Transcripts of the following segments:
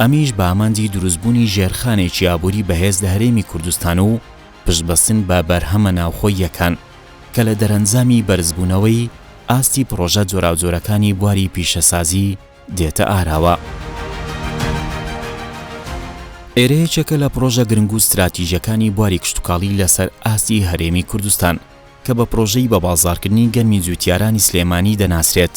ئەمیش بە ئامانجی دروستبوونی ژێرخانێکی ئابووری بەهێز لە هەرێمی کوردستان و پشتبەستن بە بەرهەمە ناوخۆییەکان، کە لە دەرەنجامی بەرزبوونەوەی ئاستی پڕۆژە جۆراوجۆرەکانی بواری پیشەسازی دێتە ئاراوە. ئێرە یەکێکە لە پڕۆژە گرنگ و ستراتیژەکانی بواری کشتوکاڵی لەسەر ئاستی هەرێمی کوردستان، کە بە پڕۆژەی بەبازاڕکردنی گەنمی جووتیارانی سلێمانی دەناسرێت.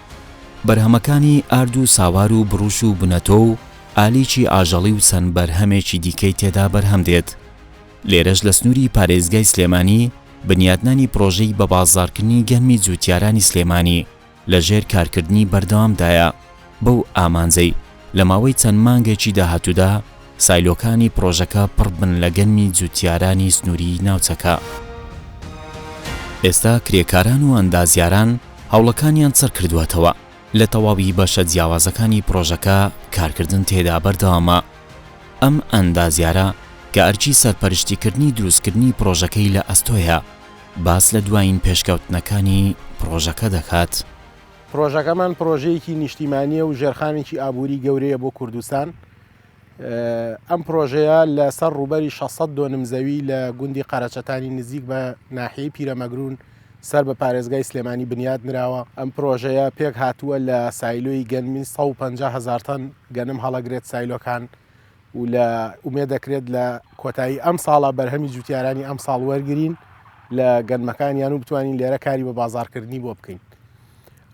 بەرهەمەکانی ئارد و ساوار و بڕوش و بنەتۆ و ئالیکی ئاژەڵی و چەند بەرهەمێکی دیکەی تێدا بەرهەم دێت. لێرەش لە سنووری پارێزگای سلێمانی بنیاتنانی پڕۆژەی بەبازاڕکردنی گەنمی جووتیارانی سلێمانی لەژێر کارکردنی بەردەوامدایە بەو ئامانجەی، لە ماوەی چەند مانگێکی داهاتوودا سایلۆکانی پڕۆژەکە پڕ بن لە گەنمی جووتیارانی سنووریی ناوچەکە. ئێستا کرێکاران و ئەندازیاران هەوڵەکانیان چڕ کردووەتەوە، لە تەواوی بەشە جیاوازەکانی پڕۆژەکە کارکردن تێدا بەردەوامە. ئەم ئەندازیارە کە ئەرکی سەرپەرشتیکردنی دروستکردنی پڕۆژەکەی لە ئەستۆیە، باس لە دوایین پێشکەوتنەکانی پڕۆژەکە دەکات. پڕۆژەکەمان پڕۆژەیەکی نیشتیمانیە و ژێرخانێکی ئابووری گەورەیە بۆ کوردستان ئەم پرۆژەیە لەسەر ڕوبەری 600 دۆنم زەوی لە گوندی قەرەچەتانی نزیک بە ناحی پیرەمەگرون سەر بە پارێزگای سلێمانی بنیاد نراوە ئەم پرۆژەیە پێک هاتووە لە سایلۆی گەنمی 150 هزارتەن گەنم هەڵەگرێت سایلۆکان و لە ئومێد دەکرێت لە کۆتایی ئەم ساڵە بەرهەمی جوتیارانی ئەم ساڵ وەرگین لە گەنمەکانیان و بتوانین لێرە کاری بە بازارکردنی بۆ بکەین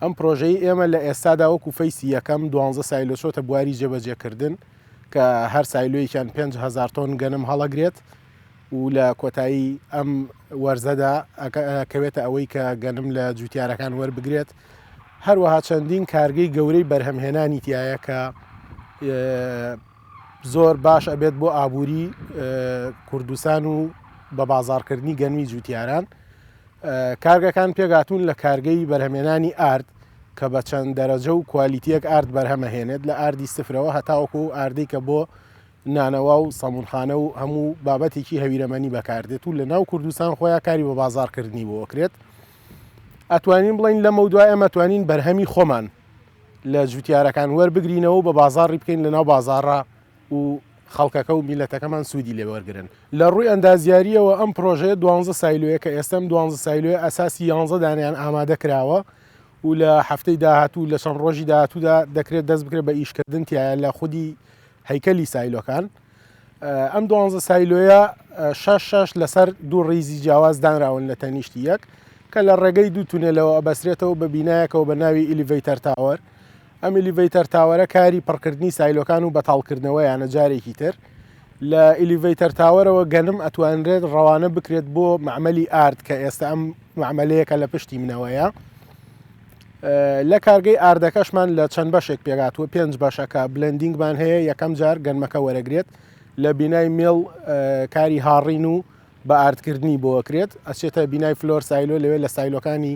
ئەم پرۆژەی ئێمە لە ئێستادا وەکو فەیسی یەکەم دوانزە سایلۆ چۆتە بواری جێبەجێکردن کە هەر سایلۆیەکیان 5هزار تۆن گەنم هەڵەگرێت و لە کۆتایی ئەم وەرزەدا ئەکەوێتە ئەوەی کە گەنم لە جوتیارەکان وەربگرێت هەروەها چەندین کارگەی گەورەی بەرهەمهێنانی تایە کە زۆر باش ئەبێت بۆ ئابووری کوردستان و بە بازارکردنی گەنمی جوتیاران کارگەکان پێگاتون لە کارگەی بەرهەمێنانی ئارد کە بە چەند دەرەجە و کوالیتیەک ئارد بەرهەمەهێنێت لە ئاردی سفرەوە هەتاوەکو ئاردی کە بۆ نانەوا و سەمونخانە و هەموو بابەتێکی هەویرەمەنی بەکاردێت و لە ناو کوردستان خۆیان کاری بە بازارکردنی بۆ ئەکرێت ئەتوانین بڵین لەمە دوای ئەمە توانین بەرهەمی خۆمان لە جوتیارەکان وەربگرینەوە بە بازاری بکەین لە ناو بازارڕا و خەڵکەکە و میلەتەکەمان سوودی لێوەرگن لە ڕووی ئەندازیاریەوە ئەم پرۆژەیە دوانزە سایلویە کە ئێستم دوانزە سایلوی ئەساسی یانزە دانیان ئامادە کراوە و لە هەفتەی داهاتوو لە چەند ڕۆژی داهاتوودا دەکرێت دەست بکرێت بە ئیشکردن تایە لە خودی هەیکەلی سایلۆکان، ئەم دوانزە سایلۆیە شەش شەش لەسەر دوو ڕیزی جیاواز دانراون لە تەنیشتی یەک کە لە ڕێگەی دوو تونێلەوە ئەبەسرێتەوە بە بینایەکەوە بە ناوی ئیلیڤەیتەر تاوەر ئەم ئیلیڤەیتەر تاوەرە کاری پڕکردنی سایلۆکان و بەتاڵکردنەوەیانە جارێکی تر لە ئیلیڤەیتەر تاوەرەوە گەنم ئەتوانرێت ڕەوانە بکرێت بۆ معمەلی ئارد کە ئێستا ئەم معمەلەیەکە لە پشتی منەوەیە لە کارگەی ئاردەکەشمان لە چەند بەشێک پێکات و پێنج بەشەکە بلندینگمان هەیە یەکەم جار گەنمەکە وەرەگرێت لە بینای مێڵ کاری هاڕین و بە ئاردکردنی بۆکرێت ئەچێتە بینای فلۆر سایلۆ لەوێ لە سایلۆکانی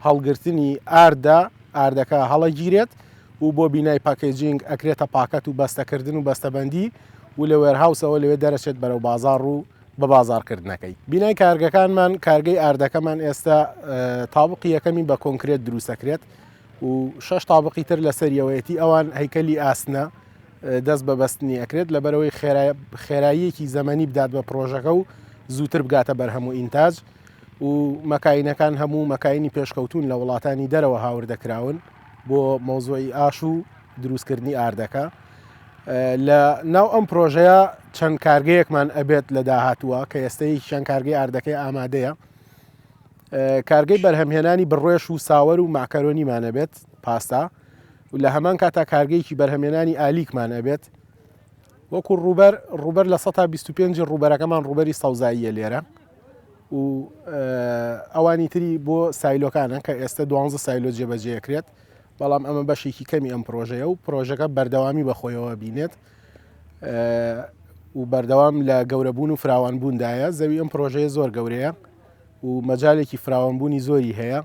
هەڵگرتنی ئاردا ئاردەکە هەڵەگیرێت و بۆ بینای پاکێجینگ ئەکرێتە پاکەت و بەستەکردن و بەستەبندی و لە وێرهاوسەوە لەوێ دەرەچێت بەرەو بازار و بە بازاڕکردنەکەی بینای کارگەکانمان کارگەی ئاردەکەمان ئێستا تاوقی یەکەمی بە کۆنکرێت دروستەکرێت و شش تاوقی تر لە سەریەوەیەتی ئەوان هەیکەلی ئاسنە دەست بە بەستنی ئەکرێت لەبەرەوەی خێراییەکی زەمەنی بدات بە پرۆژەکە و زووتر بگاتە بەر هەموو ئینتاج و مەکاینەکان هەموو مەکایانی پێشکەوتون لە وڵاتانی دەرەوە هاوردەکراون بۆ مۆزۆی ئاش و دروستکردنی ئاردەکە لە ناو ئەم پرۆژەیە چەند کارگەیەکمان ئەبێت لە داهاتووە کە ئێستەی چەند کارگەی ئاردەکەی ئامادەیە کارگەی بەرهەمهێنانی بڕێش و ساوەر و ماکەرۆنیمانە بێت پاستا و لە هەمان کاتا کارگەیەکی بەرهەمێنانی ئالیکمان ئەبێت وەکو ڕوبەر ڕوبەر لە 125 ڕوبەرەکەمان ڕوبەری سەوزاییە لێرە و ئەوانی تری بۆ سایلۆکانە کە ئێستا دوانزە سایلۆ جێبەجێکرێت بەڵام ئەمە بەشێکی کەمی ئەم پرۆژەیە و پرۆژەکە بەردەوامی بەخۆیەوە بینێت و بەردەوام لە گەورەبوون و فراوان بووندایە زەوی ئەم پرۆژەیە زۆر گەورەیە و مەجالێکی فراوانبوونی زۆری هەیە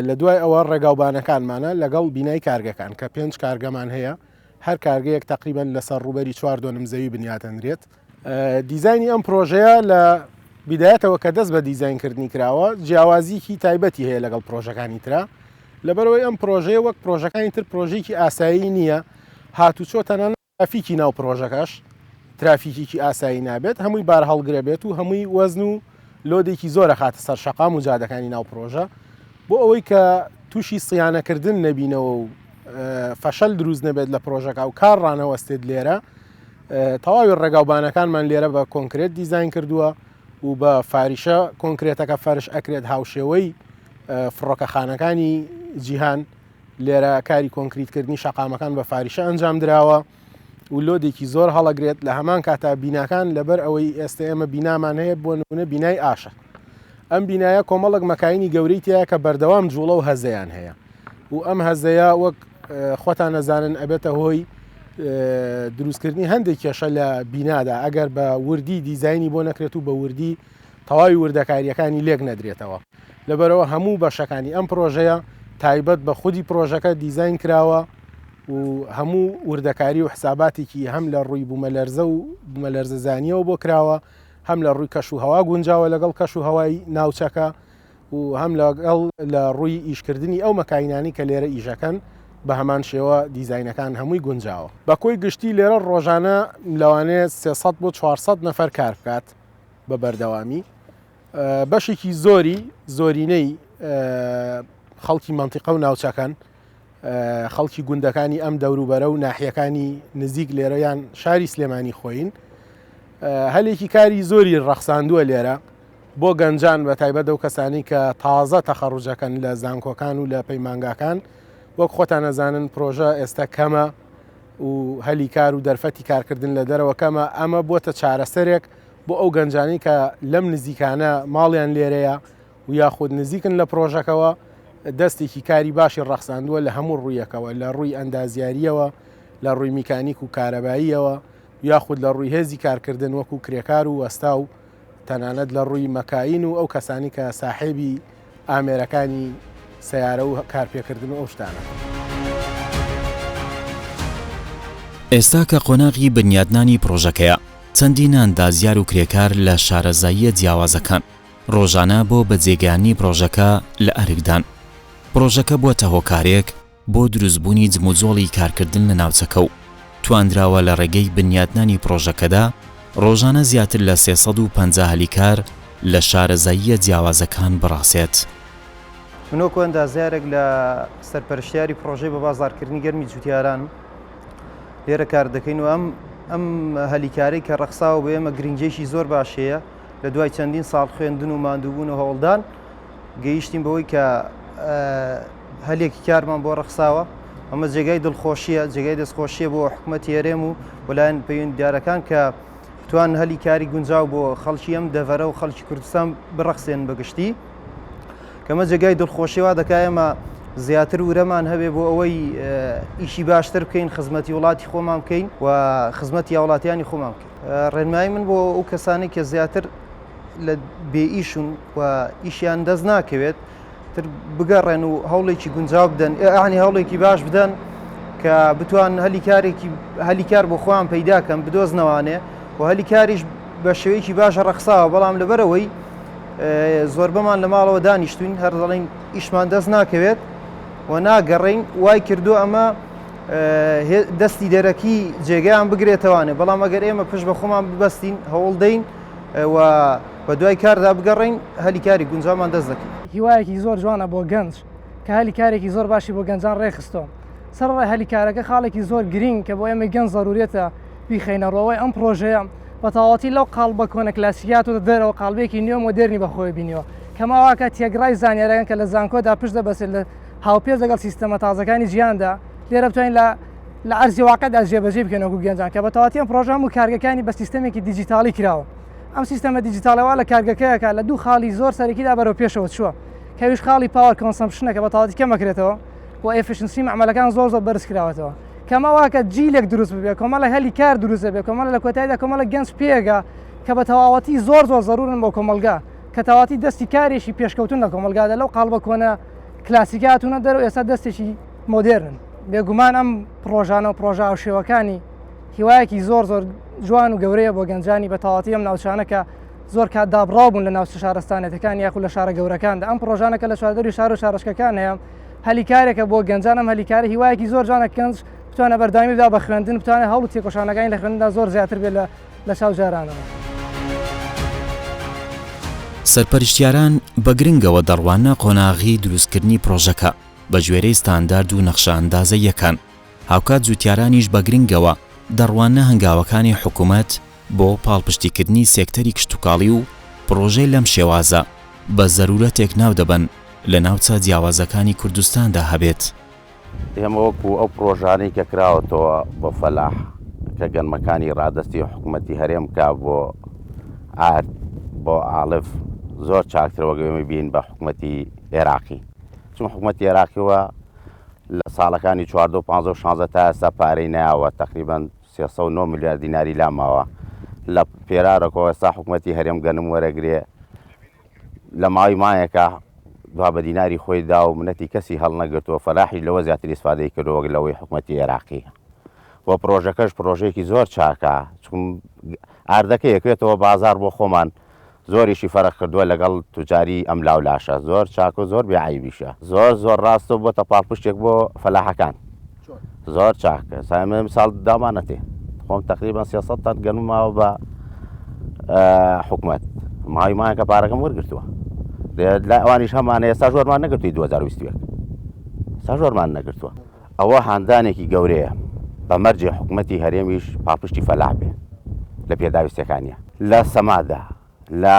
لە دوای ئەوە ڕێگاوبانەکانمانە لەگەڵ بینای کارگەکان کە پێنج کارگەمان هەیە هەر کارگەیەک تقریبان لەسەر ڕوبەری چوار دۆنم زەوی بنیاتەنرێت دیزاینی ئەم پرۆژەیە لە بیدایەتەوە کە دەست بە دیزاینکردنی کراوە جیاوازیکی تایبەتی هەیە لەگەڵ پرۆژەکانی تررا لەبەرەوەی ئەم پرۆژەیە وەک پرۆژەکانی تر پرۆژێکی ئاسایی نییە هاتوچۆ تەنان ئەفیکی ناو پرۆژەکەش ترافیکیکی ئاسایی نابێت هەمووی بار هەڵگرە بێت و هەمووی وەزن و لۆدێکی زۆرە خاتە سەر شەقام و جادەکانی ناو پرۆژە بۆ ئەوەی کە تووشی سیانەکردن نەبینەوە و فەشەل دروست نەبێت لە پرۆژەکە و کار ڕانەوەستێت لێرە تەواوی ڕێگاو بانەکانمان لێرە بە کۆنکرێت دیزین کردووە و بە فاریشە کۆنکرێتەکە فەرش ئەکرێت هاوشێوەی فڕۆکەخانەکانی جیهان لێرە کاری کۆنکریتکردنی شەقامەکان بە فاریشە ئەنجام دراوە و لۆدێکی زۆر هەڵەگرێت لە هەمان کاتا بیناکان لەبەر ئەوەی ئێستا ئێمە بینامان هەیە بۆ نمونە بینای ئاشە ئەم بینایە کۆمەڵک مەکایانی گەورەی تایە کە بەردەوام جوڵە و هەزەیان هەیە و ئەم هەزەیە وەک خۆتان نەزانن ئەبێتە هۆی دروستکردنی هەندێک کێشە لە بینادا ئەگەر بە وردی دیزایانی بۆ نەکرێت و بە وردی تەواوی وردەکاریەکانی لێک نەدرێتەوە لەبەرەوە هەموو بەشەکانی ئەم پرۆژەیە تایبەت بە خودی پرۆژەکە دیزین کراوە و هەموو وردەکاری و حساباتێکی هەم لە ڕووی بوومەلەرزە و بوومەلەرزەزانیەوە بۆ کراوە هەم لە ڕووی کەش و هەوا گونجاوە لەگەڵ کەش و هەوای ناوچەکە و هەم لەگەڵ لە ڕووی ئیشکردنی ئەو مەکاینانەی کە لێرە ئیشەکەن بە هەمان شێوە دیزاینەکان هەمووی گونجاوە. بە کۆی گشتی لێرە ڕۆژانە لەوانەیە سێ سەد بۆ چوار سەد نەفەر کار بکات بە بەردەوامی بەشێکی زۆری زۆرینەی خەڵکی مەنتیقە و ناوچەکەن. خەڵکی گوندەکانی ئەم دەوروبەرە و ناحیەکانی نزیک لێرەیان شاری سلێمانی خۆین هەلێکی کاری زۆری ڕەخساندووە لێرە بۆ گەنجان بە تایبەت دەو کەسانی کە تازە تەخەڕوجەکەن لە زانکۆکان و لە پەیمانگاکان وەک خۆتان نەزانن پرۆژە ئێستا کەمە و هەلی کار و دەرفەتی کارکردن لە دەرەوە کەمە ئەمە بووە چارەسەرێک بۆ ئەو گەنجانی کە لەم نزیکانە ماڵیان لێرەیە و یاخود نزیکن لە پرۆژەکەوە، دەستێکی کاری باشی ڕەخساندووە لە هەموو ڕوویەکەوە، لە ڕووی ئەندازیارییەوە، لە ڕووی میکانیک و کارەباییەوە و یاخود لە ڕووی هێزی کارکردن وەکوو کرێکار و وەستا و تەنانەت لە ڕووی مەکاین و ئەو کەسانی کە ساحێبی ئامێرەکانی سەیارە و کارپێکردن و ئەو شتانە. ئێستا کە قۆناغی بنیادنانی پرۆژەکەیە، چەندین ئەندازیار و کرێکار لە شارەزاییە جیاوازەکان، ڕۆژانە بۆ بەجێگەیاندنی پڕۆژەکە لە ئەرکدان. پڕۆژەکە بووەتە هۆکارێک بۆ دروستبوونی جموجۆڵی کارکردن لە ناوچەکە و توانراوە لە ڕێگەی بنیاتنانی پڕۆژەکەدا ڕۆژانە زیاتر لە سێ سەد و پەنجا هەلی کار لە شارەزاییە جیاوازەکان بڕاسێت. من وەکو ئەندازیارێک لە سەرپەرشتیاری پڕۆژەی بە بازاڕکردنی گەرمی جوتیارانم لێرە کار دەکەین و ئەم ئەم هەلی کارەی کە ڕەخساوە بۆ ئێمە گرنگیەکی زۆر باشی هەیە، لە دوای چەندین ساڵ خوێندن و ماندووبوون و هەوڵدان گەیشتین بەوەی کە هەلێکی کارمان بۆ ڕەخساوە ئەمە جێگای دڵخۆشیە جێگای دەستخۆشیە بۆ حکوومەتی هەرێم و وەلایەن پەیوەنددارەکان کە توان هەلی کاری گونجاو بۆ خەڵکی ئەم دەڤەرە و خەڵکی کوردستان بڕەخسێن بەگشتی کەمە جێگای دڵخۆشیەوە دەکایەمە زیاتر ورەمان هەبێ بۆ ئەوەی ئیشی باشتر بکەین خزمەتی وڵاتی خۆمان بکەین و خزمەتی هاوڵاتیانی خۆمان بکەین ڕێنمایی من بۆ ئەو کەسانی کە زیاتر لە بێ ئیشون و ئیشیان دەست ناکەوێت تر بگەڕێن و هەوڵێکی گونجاو بدەن ئەعنی هەوڵێکی باش بدەن کە بتوان هەلی کارێکی هەلی کار بۆ خۆیان پەیداکەم بدۆزنەوانێ و هەلی کاریش بە شێوەیەکی باشە ڕەخساوە بەڵام لەبەرەوەی زۆربەمان لە ماڵەوە دانیشتوین هەر دەڵین ئیشمان دەست ناکەوێت و ناگەڕین وای کردو ئەمە دەستی دەرەکی جێگەیان بگرێتەوانێ بەڵام ئەگەر ئێمە پشت بە خۆمان ببەستین هەوڵ دەین و بە دوای کاردا بگەڕین هەلی کاری گونجامان دەست دەکەین. هیوایەکی زۆر جوانە بۆ گەنج کە هەلی کارێکی زۆر باشی بۆ گەنجان ڕێکخستووە. سەرەڕای هەلی کارەکە خاڵێکی زۆر گرینگ کە بۆ ئێمەی گەنج زەروریەتە بیخەینەڕوو ئەوەی ئەم پڕۆژەیە بە تەواوەتی لەو قاڵبە کۆنە کلاسیکیە هاتۆتە دەرەوە قاڵبێکی نوێ مۆدێرنی بەخۆوە بینیوە کەماواکە تێگڕای زانیاریەکان کە لە زانکۆدا پشت دەبەستێت لە هاوپێچ لەگەڵ سیستەمە تازەکانی جیهاندا، لێرە بتوانین لە لە عەرزی واقعدا جێبەجێی بکەین وەکو گەنجان کە بە تەواتی ئەم پڕۆژە هەموو کارگەکانی بە سیستەمێکی دیجیتاڵی کراوە ئەم سیستەمە دیجیتاڵە وا لە کارگەکەیەکە لە دوو خاڵی زۆر سەرەکیدا بەرەو پێشەوە چووە کەویش خاڵی پاوەر کۆنسەمپشنەکە بە تەواتی کەمەکرێتەوە و ئێفیشنسی مەعمەلەکان زۆر زۆر بەرز کراوەتەوە کەمە واکە جیلێک دروست ببێ کۆمەڵە هەلی کار دروست بێ کۆمەڵە لە کۆتاییدا کۆمەڵە گەنج پێگە کە بە تەواوەتی زۆر زۆر زەرورن بۆ کۆمەلگا کە تەواتی دەستی کارێکی پێشکەوتن لە کۆمەلگادە لەو قاڵبە کۆنە کلاسیکی هاتوونە دەرەوە ئێستا دەستێکی مۆدێرن بێگومان ئەم پرۆژانە و پرۆژە هاوشێوەکانی هیوایەکی زۆر زۆر جوان و گەورەیە بۆ گەنجانی بە تەواتی ئەم ناوچانە کە زۆر کات دابڕاو بوون لە ناوچە شارستانەتەکان یاخود لە شارە گەورەکاندا ئەم پرۆژانەکە لە چواردەری شار و شارشکەکان هەیە هەلی کارێکە بۆ گەنجان ئەم هەلی کارە هیوایەکی زۆر جوانە کەنج بتوانە بەردامی بدا بە خوێندن بتوانێت هەوڵ تێکۆشانەکانی لە خوێندا زۆر زیاتر بێت لە لە چاو جارانەوە. سەرپەرشتیاران بە گرنگەوە دەڕواننە قۆناغی دروستکردنی پرۆژەکە بە گوێرەی ستاندارد و نەخشە ئەندازەییەکان، هاوکات جووتیارانیش بە گرنگەوە دەڕواننە هەنگاوەکانی حکومەت بۆ پاڵپشتیکردنی سێکتەری کشتوکاڵی و پرۆژەی لەم شێوازە بە زەروورەتێک ناودەبەن لە ناوچە جیاوازەکانی کوردستاندا هەبێت. ئێمە وەکو ئەو پڕۆژانەی کە کراوەتەوە بۆ فەلاح کە گەنمەکانی ڕادەستی حکوومەتی هەرێم کا بۆ ئارد بۆ ئاڵف زۆر چاکتر وەگەێمە بین بە حکوومەتی عێراقی چون حکوومەتی عێراقیەوە لە ساڵەکانی 14 15 16 تا ئێستا پارەی ناوە تقریبان 309 میلیارد دیناری لاماوە لە پێرارەکەەوە ئێستا حکوومەتی هەرێم گەنم وەرەگرێ لە ماوەی مایەکە دوا بە دیناری خۆی دا و منەتی کەسی هەڵنەگرت و فەلاحیش لەوە زیاتر ئیسفادەی کرد وەک لەوەی حکوومەتی عێراقی و پرۆژەکەش پرۆژەیەکی زۆر چاکە چون ئاردەکە یەکێتەوە بازار بۆ خۆمان زۆریشی فەرق کردووە لەگەڵ توجاری ئەم لاو لاشە زۆر چاک و زۆر بێعیبیشە زۆر زۆر ڕاستە بۆتە پاڵپشتێک بۆ فەلاحەکان چۆن؟ زۆر چاک ئێستا ئێمە ئەمساڵ داومان نەتێ خۆم تقریبا سێ سەد تەن گەنم ماوە بە حکومت ماوی مایان کە پارەکەم وەرگرتووە لە ئەوانیش هەمانە ئێستا زۆرمان نەگرتوی 2020 سا زۆرمان نەگرتووە ئەوە هاندانێکی گەورەیە بە مەرجێ حکوومەتتی هەرێمیش پاپشتی فەلاح بێ لە پێداویستەکانە لە سەمادا لە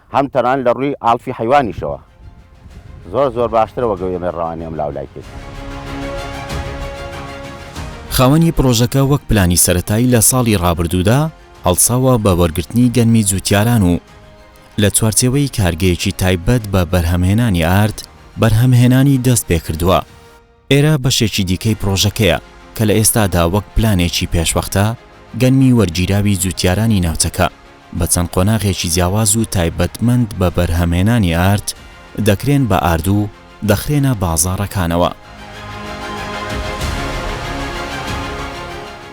هەم تەنانەت لە ڕووی ئاڵفی حەیوانیشەوە زۆر زۆر باشترە وەک ئەوەی ئێمەی ڕەوانەی ئەملاو و لای کرد. خاوەنی پڕۆژەکە وەک پلانی سەرەتایی لە ساڵی ڕابردوودا هەڵساوە بە وەرگرتنی گەنمی جووتیاران و لە چوارچێوەی کارگەیەکی تایبەت بە بەرهەمهێنانی ئارد بەرهەمهێنانی دەست پێکردووە. ئێرە بەشێکی دیکەی پڕۆژەکەیە کە لە ئێستادا وەک پلانێکی پێشوەختە، گەنمی وەرگیراوی جووتیارانی ناوچەکە بە چەند قۆناغێکی جیاواز و تایبەتمەند بە بەرهەمهێنانی ئارد، دەکرێن بە ئارد و دەخرێنە بازاڕەکانەوە.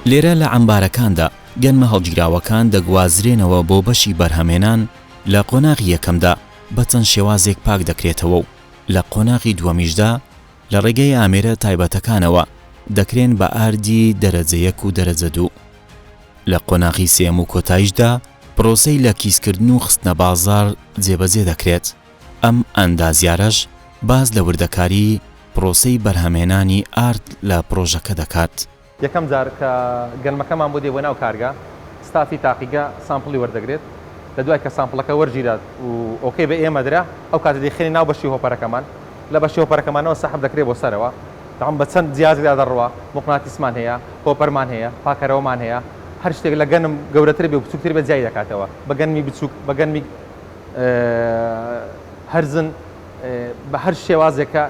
لێرە لە عەمبارەکاندا گەنمە هەڵگیراوەکان دەگوازرێنەوە بۆ بەشی بەرهەمهێنان، لە قۆناغی یەکەمدا بە چەند شێوازێک پاک دەکرێتەوە و لە قۆناغی دووەمیشدا لە ڕێگەی ئامێرە تایبەتەکانەوە دەکرێن بە ئاردی دەرەجە یەک و دەرەجە دوو. لە قۆناغی سێیەم و کۆتایشدا پرۆسەی لە کیسکردن و خستنە بازاڕ جێبەجێ دەکرێت، ئەم ئەندازیارەش باس لە وردەکاری پرۆسەی بەرهەمهێنانی ئارد لە پرۆژەکە دەکات. یەکەم جار کە گەنمەکەمان بۆ دێ بۆ ناو کارگە، ستافی تاقیگە سامپڵی وەردەگرێت، لە دوای کە سامپڵەکە وەرگیرا و ئۆکەی بە ئێمە درا، ئەو کاتە دەیخەینە ناو بەشی هۆپەرەکەمان، لە بەشی هۆپەرەکەمانەوە سەحب دەکرێت بۆ سەرەوە، دەعم بە چەند جیازێکدا دەڕوا، موقناتیسمان هەیە، هۆپەرمان هەیە، پاکەرەوەمان هەیە، هەر شتێک لە گەنم گەورەتر بێ و بچووکتر بێت جیای دەکاتەوە، بە گەنمی بچووک، بە گەنمی هەرزن، بە هەر شێوازێک کە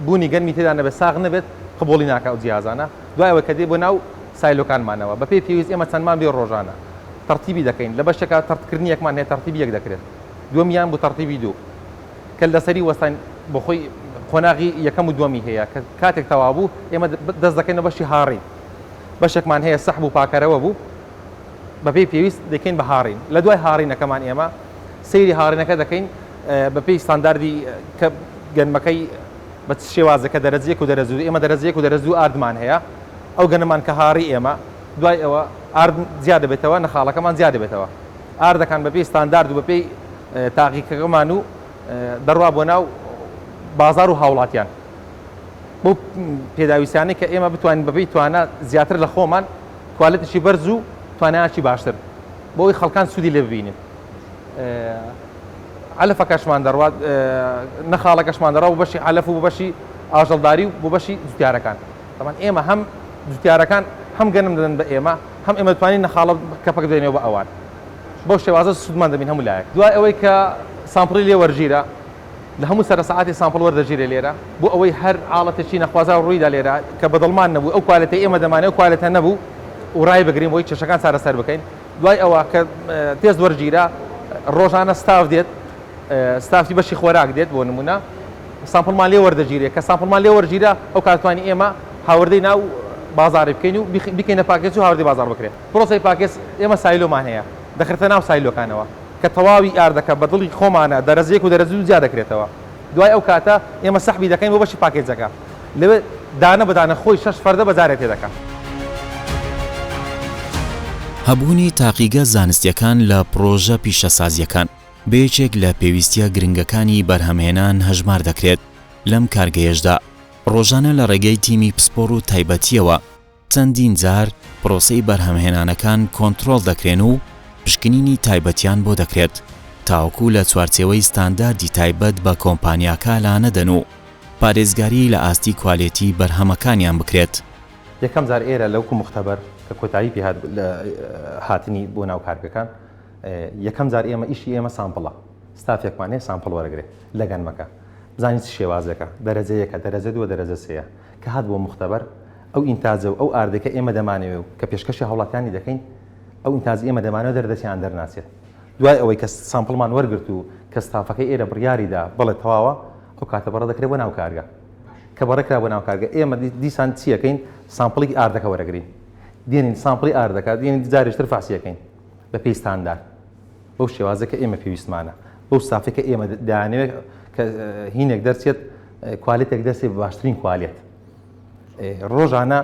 بوونی گەرمی تێدا نەبێت ساغ نەبێت قبوڵی ناکە ئەو جیازانە دوای ئەوە کە دێ بۆ ناو سایلۆکانمانەوە بە پێی پێویست ئێمە چەندمان بێ ڕۆژانە تەرتیبی دەکەین لە بەشێکا تەرتکردنیەکمان هەیە تەرتیبی یەک دەکرێت دومیان بۆ تەرتیبی دوو کە لەسەری وەستان بۆخۆی قۆناغی یەکەم و دومی هەیە کە کاتێک تەوابوو ئێمە دەست دەکەینە بەشی هاڕی بەشێکمان هەیە سەحب و پاکەرەوە بوو بەپێی پێویست دەکەین بە هاڕین لە دوای هاڕینەکەمان ئێمە سەیری هاڕینەکە دەکەین بەپێی ستانداردی کە گەنمەکەی بە چ شێوازەکە دەرەجە یەک و دەرەجە دوو ئێمە دەرەجە یەک و دەرەجە دوو ئاردمان هەیە ئەو گەنمان کە هاڕی ئێمە دوای ئەوە ئارد زیاد دەبێتەوە نەخاڵەکەمان زیاد دەبێتەوە ئاردەکان بەپێی ستاندارد و بەپێی تاقیکەکەمان و دەڕوا بۆ ناو بازار و هاوڵاتیان بۆ پێداویستانەی کە ئێمە بتوانین بەپی توانە زیاتر لە خۆمان کوالەتشی بەرز و توانایکی باشتر بۆی خەڵکان سوودی لێ ببینن عەلەفەکەشمان دەڕوات نەخاڵەکەشمان دەڕا و بەشی عەلەف و بەشی ئاژەڵداری و بۆ بەشی جوتیارەکان تەمان ئێمە هەم جوتیارەکان هەم گەنم دەدەن بە ئێمە هەم ئێمە توانین نەخاڵە کەپەک دێنەوە بە ئەوان بەو شێوازە سوودمان دەبین هەموو لایەک دوای ئەوەی کە سامپڵی لێ وەرگیرە لە هەموو سەر ساعتی سامپڵ وەردەگیرێ لێرە بۆ ئەوەی هەر حاڵەتێکی نەخوازا ڕوویدا لێرە کە بەدڵمان نەبوو ئەو کوالەتی ئێمە دەمانێت کوالەتە نەبوو و ڕای بگرین بۆی کێشەکان چارەسەر بکەین دوای ئەوە کە تێست وەرگیرا ڕۆژانە ستاف دێت ستافی بەشی خۆراک دێت بۆ نمونە سامپڵمان لێ وەردەگیرێت کە سامپڵمان لێ وەرگیرە ئەو کاتوانی ئێمە هاوردەی ناو بازاری بکەین و بکەینە پاکێج و هاوردەی بازار بکرێت پرۆسی پاکێج ئێمە سایلۆمان هەیە دەخرێتە ناو سایلۆکانەوە کە تەواوی ئاردەکە بە دڵی خۆمانە دەرەجەیەک و دەرەجە دوو جیا دەکرێتەوە دوای ئەو کاتە ئێمە سەحبی دەکەین بۆ بەشی پاکێجەکە لەوێ دانە بە دانە خۆی شەش فەردە بە جارێ تێدەکا. هەبوونی تاقیگە زانستییەکان لە پڕۆژە پیشەسازییەکان بە یەکێک لە پێویستییە گرنگەکانی بەرهەمهێنان هەژمار دەکرێت، لەم کارگەیەشدا ڕۆژانە لە ڕێگەی تیمی پسپۆڕ و تایبەتییەوە، چەندین جار پرۆسەی بەرهەمهێنانەکان کۆنترۆڵ دەکرێن و پشکنینی تایبەتیان بۆ دەکرێت تاوەکو لە چوارچێوەی ستانداردی تایبەت بە کۆمپانیاکە لانەدەن و پارێزگاری لە ئاستی کوالێتی بەرهەمەکانیان بکرێت. یەکەم جار ئێرە لەوکو موختەبەر کە کۆتایی پێ هات لە هاتنی بۆ ناو کارگەکان یەکەم جار ئێمە ئیشی ئێمە سامپڵە ستافێکمان هەیە سامپڵ وەرەگرێ لە گەنمەکە بزانین چ شێوازێکە دەرەجە یەکە دەرەجە دووە دەرەجە سێیە کە هات بۆ موختەبەر ئەو ئینتاجە و ئەو ئاردەی کە ئێمە دەمانەوێ و کە پێشکەشی هاوڵاتیانی دەکەین، ئەو ئینتاجەی ئێمە دەمانەوێ دەردەچێ یان دەرناچێت. دوای ئەوەی کە سامپڵمان وەرگرت و کە ستافەکەی ئێرە بڕیاری دا بەڵێ تەواوە، ئەو کاتە بەڕێ دەکرێ بۆ ناو کارگە. کە بەڕێ کرا بۆ ناو کارگە، ئێمە دیسان چی ئەکەین؟ سامپڵی ئاردەکە وەرەگرین. دێنین سامپڵی ئاردەکە، دێنین جارێکی تر فەحسی ئەکەین بە پێی ستاندارد. بەو شێوازەی کە ئێمە پێویستمانە، بەو ستافەی کە ئێمە دەیانەوێ کە هینێک دەرچێت، کوالێتێک دەرچێ بە باشترین کوالێت. ڕۆژانە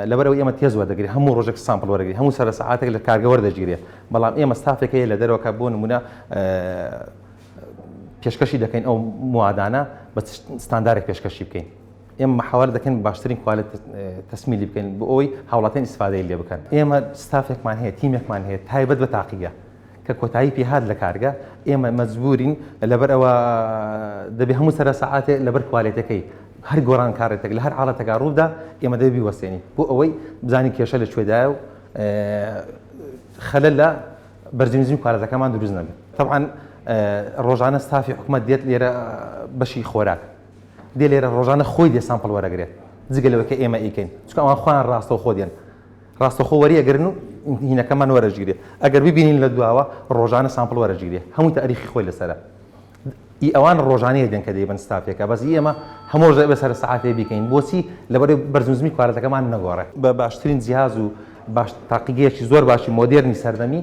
لەبەرەوە ئێمە تێز وەردەگری هەموو ڕۆژێک سامپل وەرەگری هەموو سەر ساعاتێک لە کارگە وەردەگیرێت بەڵام ئێمە ستافێک هەیە لە دەرەوەکە بۆ نمونە پێشکەشی دەکەین ئەو موادانە بە ستاندارێک پێشکەشی بکەین ئێمە مححاوار دەکەن باشترین کوالێت تەسمیلی بکەین بۆ ئەوی هاوڵاتیان ئیسفادەی لێ بکەن ئێمە ستافێکمان هەیە تیمێکمان هەیە تایبەت بە تاقیگە کە کۆتایی پێهات لە کارگە ئێمە مەجبورین لەبەر ئەوە دەبێ هەموو سەرە سەعاتێ لەبەر کوالێتەکەی هەر گۆران کارێتێک لە هەر حاڵەتەکە ڕوودا ئێمە دەبی وەسێنی بۆ ئەوەی بزانین کێشە لە کوێدایە و خەلە لە بەرزیمزی پارەتەکەمان دروست نەبێ طبعاان ڕۆژانە ستافی حکوومەت دێت لێرە بەشی خۆراک دێ لێرە ڕۆژانە خۆی دێ سامپڵ وەرەگرێت جگە لەوەکە ئێمە ئیکەین چکەوان خۆیان ڕاستەو خۆدیێن ڕاستەخۆ وەری ئەگرن و هینەکەمان وەرەجگرێ ئەگەر ببینین لە دواوە ڕۆژانە سامپڵ وەرەجگرێ هەمووی تاریخی خۆی لەسەرە ئی ئەوان ڕۆژانەیە دێن کە دەیبن ستافێکە بەس ئێمە هەمۆش دەبێت سەر سەعاتێ بیکەین بۆچی لەبەر بەرزنزمی کوالەتەکەمان نەگۆڕێ بە باشترین جیاز و باش تاقیگەیەکی زۆر باشی مۆدێرنی سەردەمی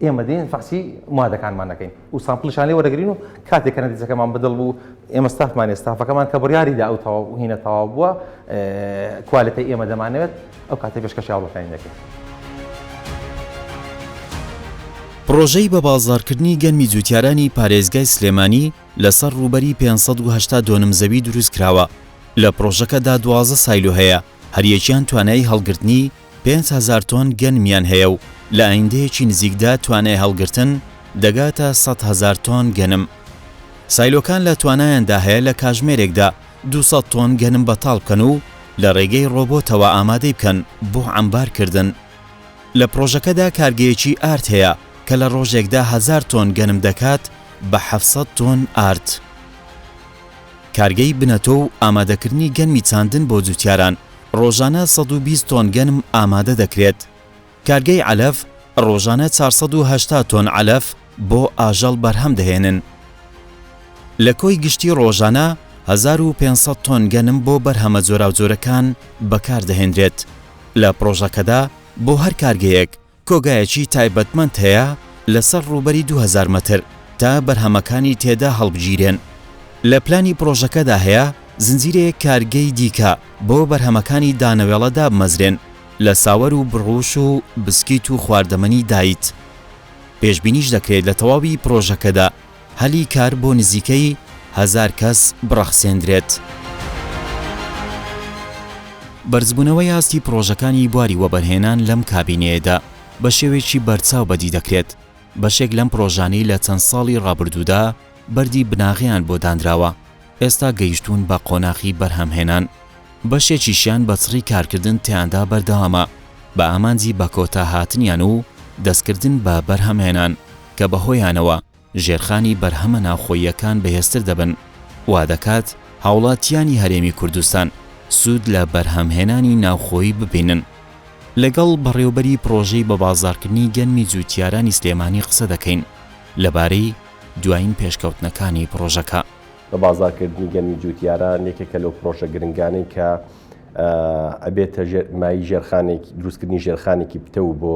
ئێمە دێین فەحسی مادەکانمان دەکەین و سامپڵیشان لێ وەرەگرین و کاتێک کە نەتیجەکەمان بەدڵ بوو ئێمە ستافمانێ ستافەکەمان کە بڕیاریدا ئەو تەواو هینە تەواو بووە کوالەتە ئێمە دەمانەوێت ئەو کاتێ پێشکەش یاڵەکانی دەکەین. پڕۆژەی بە بازاڕکردنی گەنمی جووتیارانی پارێزگای سلێمانی لەسەر ڕووبەری پێنج سەد و هەشتا دۆنم زەوی دروستکراوە، لە پڕۆژەکەدا دوازدە سایلۆ هەیە، هەریەکیان توانایی هەڵگرتنی پێنج هەزار تۆن گەنمیان هەیە و لە ئایندەیەکی نزیکدا توانای هەڵگرتن دەگاتە سەد هەزار تۆن گەنم. سایلۆکان لە توانایاندا هەیە لە کاژمێرێکدا دوو سەد تۆن گەنم بەتاڵ بکەن و لە ڕێگەی ڕۆبۆتەوە ئامادەی بکەن بۆ عەمبارکردن. لە پڕۆژەکەدا کارگەیەکی ئارد هەیە کە لە ڕۆژێکدا هەزار تۆن گەنم دەکات بە حەفت سەد تۆن ئارد. کارگەی بنەتۆ و ئامادەکردنی گەنمی چاندن بۆ جووتیاران، ڕۆژانە سەد و بیست تۆن گەنم ئامادە دەکرێت. کارگەی عەلەف ڕۆژانە چوار سەد و هەشتا تۆن عەلەف بۆ ئاژەڵ بەرهەم دەهێنن. لە کۆی گشتی ڕۆژانە هەزار و پێنج سەد تۆن گەنم بۆ بەرهەمە جۆراوجۆرەکان بەکاردەهێنرێت. لە پڕۆژەکەدا بۆ هەر کارگەیەک، کۆگایەکی تایبەتمەند هەیە لەسەر ڕووبەری دوو هەزار مەتر تا بەرهەمەکانی تێدا هەڵبگیرێن. لە پلانی پڕۆژەکەدا هەیە زنجیرەیەک کارگەی دیکە بۆ بەرهەمەکانی دانەوێڵە دابمەزرێن لە ساوەر و بڕوش و بسکیت و خواردەمەنی دایت. پێشبینیش دەکرێت لە تەواوی پڕۆژەکەدا هەلی کار بۆ نزیکەی هەزار کەس بڕەخسێندرێت. بەرزبوونەوەی ئاستی پڕۆژەکانی بواری وەبەرهێنان لەم کابینەیەدا بە شێوەیەکی بەرچاو بەدی دەکرێت، بەشێک لەم پڕۆژانەی لە چەند ساڵی ڕابردوودا بەردی بناغەیان بۆ دانراوە، ئێستا گەیشتوون بە قۆناخی بەرهەمهێنان، بەشێکیشیان بە چڕی کارکردن تیاندا بەردەوامە بە ئامانجی بەکۆتاهاتنیان و دەستکردن بە بەرهەمهێنان. کە بەهۆیانەوە ژێرخانی بەرهەمە ناوخۆییەکان بەهێزتر دەبن، وادەکات هاوڵاتییانی هەرێمی کوردستان سوود لە بەرهەمهێنانی ناوخۆیی ببینن. لەگەڵ بەڕێوبەری پڕۆژەی بەبازاڕکردنی گەنمی جووتیارانی سلێمانی قسە دەکەین لەبارەی دوایین پێشکەوتنەکانی پڕۆژەکە. بەبازاڕکردنی گەنمی جووتیاران یەکێکە لەو پڕۆژە گرنگانەی کە ئەبێتە مایەی دروستکردنی ژێرخانێکی پتەو بۆ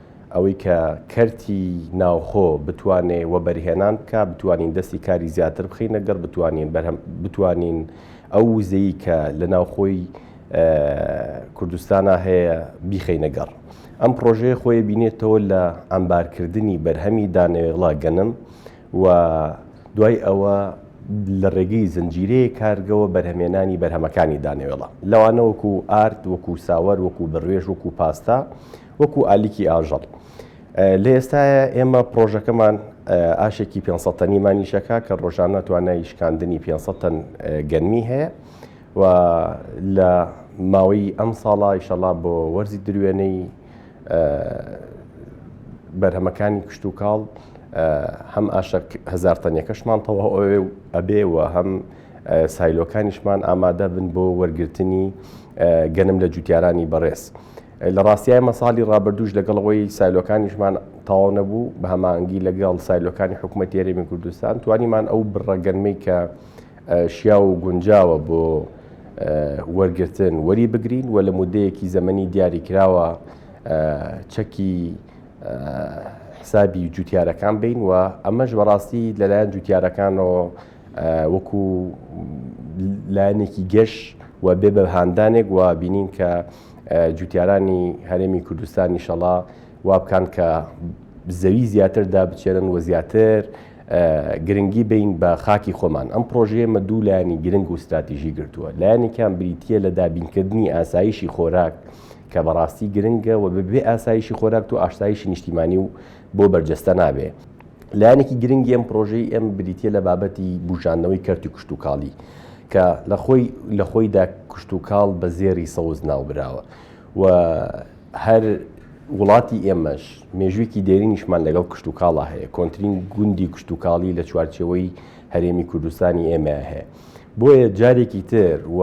ئەوەی کە کەرتی ناوخۆ بتوانێ وەبەرهێنان بکە بتوانین دەستی کاری زیاتر بخینە گەڕ بتوانین بەرهەم بتوانین ئەو وزەی کە لە ناوخۆی کوردستانە هەیە بیخینە گەڕ ئەم پرۆژەیە خۆی بینێتەوە لە ئەمبارکردنی بەرهەمی دانەوێڵا گەنم و دوای ئەوە لە ڕێگەی زنجیرەیە کارگەوە بەرهەمێنانی بەرهەمەکانی دانەوێڵە لەوانەوەکو ئارد وەکو ساوەر وەکو بڕێژ وەکو پاستا وەکو ئالیکی ئاژەڵ لە ئێستاە ئێمە پرۆژەکەمان ئاشێکی 500 تەنی مانیشەکە کە ڕۆژانە توانای شکاندنی 500 تەن گەنمی هەیە و لە ماوەی ئەم ساڵا ئیشەڵا بۆ وەرزی دروێنەی بەرهەمەکانی کشت و کاڵ هەم ئاشک هزار تەنیەکەشمان تەواو ئەوێ و ئەبێ و هەم سایلۆکانیشمان ئامادە بن بۆ وەرگرتنی گەنم لە جوتیارانی بەڕێز. لە ڕاستی ئێمە ساڵی ڕابردووش لەگەڵ ئەوەی سایلۆکانیشمان تەواو نەبوو بە هەمانگی لەگەڵ سایلۆکانی حکوومەت یاریمی کوردستان توانیمان ئەو بڕەگەنمەی کە شیا و گونجاوە بۆ وەرگتن وەری بگرین و لە مدەیەکی زەمەنی دیاری کراوە چەکی حسابی جوتیارەکان بین و ئەمەش بەڕاستی لەلایەن جوتیارەکانەوە وەکو لایەنێکی گەش و بێ بە هاندانێک و بینین کە جوتیارانی هەرێمی کوردستان نیشەڵا وابکان کە زەوی زیاتر دابچێنن و زیاتر گرنگی بین بە خاکی خۆمان ئەم پرۆژەیەمە دوو لایانی گرنگ و استراتیژی گرتووە لایەنێکیان بریتە لە دابینکردنی ئاسایشی خۆراک کە بەڕاستی گرنگە و ببێ ئاسایشی خۆراک و ئاشتایشی نیشتیمانی و بۆ بەرجەستە نابێ لایەنێکی گرنگی ئەم پرۆژەی ئەم بریتە لە بابەتی بژاندنەوەی کەرتی کشتتوکاڵی کە لە خۆی لە خۆیدا کشتتوکاڵ بە زێری سەوز ناوبراوە و هەر وڵاتی ئێمەش مێژوویکی دێرینیشمان لەگەڵ کشتتوکاڵا هەیە کۆنتترین گوندی کشتتوکاڵی لە چوارچەوەی هەرێمی کوردستانی ئێمە هەیە بۆیە جارێکی تر و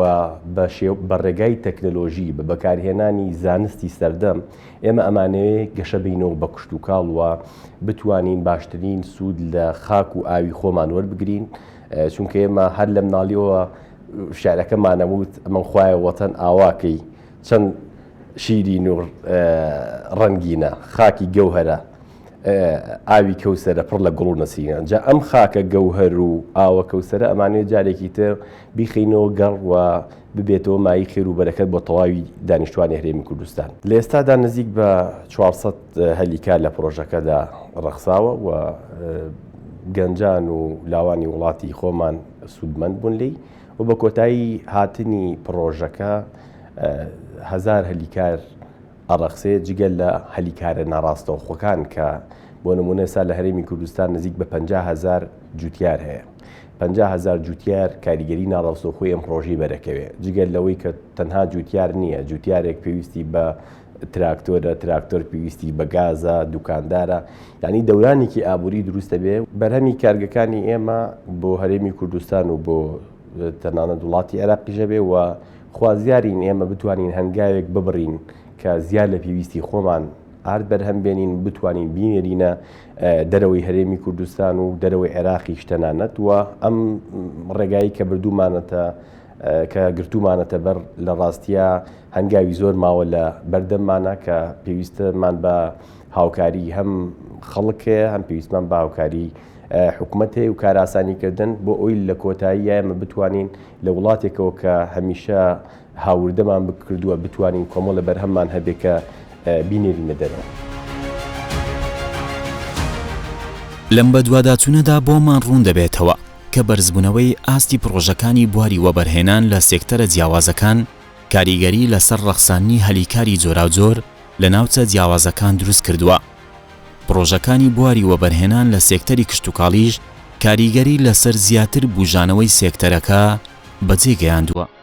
بە ڕێگای تەکنەلۆژی بە بەکارهێنانی زانستی سەردەم ئێمە ئەمانەوێ گەشە بینەوە بە کشتوکاڵ و بتوانین باشترین سوود لە خاک و ئاوی خۆمان وەربگرین چونکە ئێمە هەر لە مناڵیەوە شارەکەمانەوت ئەمە خوایە وەتەن ئاواکەی چەند شیری نور ڕەنگینە خاکی گەوهرە ئاوی کەوسرە پڕ لە گوڵ و نەسیگەن جا ئەم خاکە گەوهر و ئاوە کەوسرە ئەمانێت جارێکی تر بیخینەوە گەڕ و ببێتەوە مایەی خێر و بەرەکەت بۆ تەواوی دانیشتوانی هەرێمی کوردستان. لە ئێستادا نزیک بە چوار سەد هەلی کار لە پڕۆژەکەدا ڕەخساوە و گەنجان و لاوانی وڵاتی خۆمان سوودمەند بوون لێی و بە کۆتایی هاتنی پڕۆژەکە هەزار هەلی کار ئەڕەخسێ جگە لە هەلی کارە ناڕاستەوخۆکان کە بۆ نموونە ئێستا لە هەرێمی کوردستان نزیک بە پەنجا هەزار جووتیار هەیە. پەنجا هەزار جوتیار کاریگەری ناڕاستەوخۆی ئەم پرۆژەی بەرەکەوێ جگەل لەوەی کە تەنها جوتیار نییە جوتیارێک پێویستی بە تراکتۆرە تراکتۆر پێویستی بە گازە دوکاندارە یعنی دەورانێکی ئابووری دروستە بێ بەرهەمی کارگەکانی ئێمە بۆ هەرێمی کوردستان و بۆ تەنانە وڵاتی عێراقیژە بێ و خوازیارین ئێمە بتوانین هەنگاوێک ببڕین کە زیاد لە پێویستی خۆمان ئارد بەرهەم بێنین بتوانین بینێرینە دەرەوەی هەرێمی کوردستان و دەرەوەی عێراقی شتەنانەت و ئەم ڕێگایی کە بردوومانەتە کە گرتومانەتە بەر لە ڕاستیە هەنگاوی زۆر ماوە لە بەردەممانە کە پێویستمان بە هاوکاری هەم خەڵکەیە هەم پێویستمان بە هاوکاری حکوومەت هەیە و کاراسانیکردن بۆ ئەوی لە کۆتایی یامە بتوانین لە وڵاتێکەوە کە هەمیشە هاوردەمان بکردووە بتوانین کۆمەڵە بەرهەممان هەبێ کە بینێرینە دەرەوە. لەم بەدواداچوونەدا بۆمان ڕوون دەبێتەوە کە بەرزبوونەوەی ئاستی پڕۆژەکانی بواری وەبەرهێنان لە سێکتەرە جیاوازەکان کاریگەری لەسەر ڕەخساندنی هەلی کاری جۆراوجۆر لە ناوچە جیاوازەکان دروست کردووە. پڕۆژەکانی بواری وەبەرهێنان لە سێکتەری کشتوکاڵیش کاریگەری لەسەر زیاتر بوژانەوەی سێکتەرەکە بەجێگەیاندووە.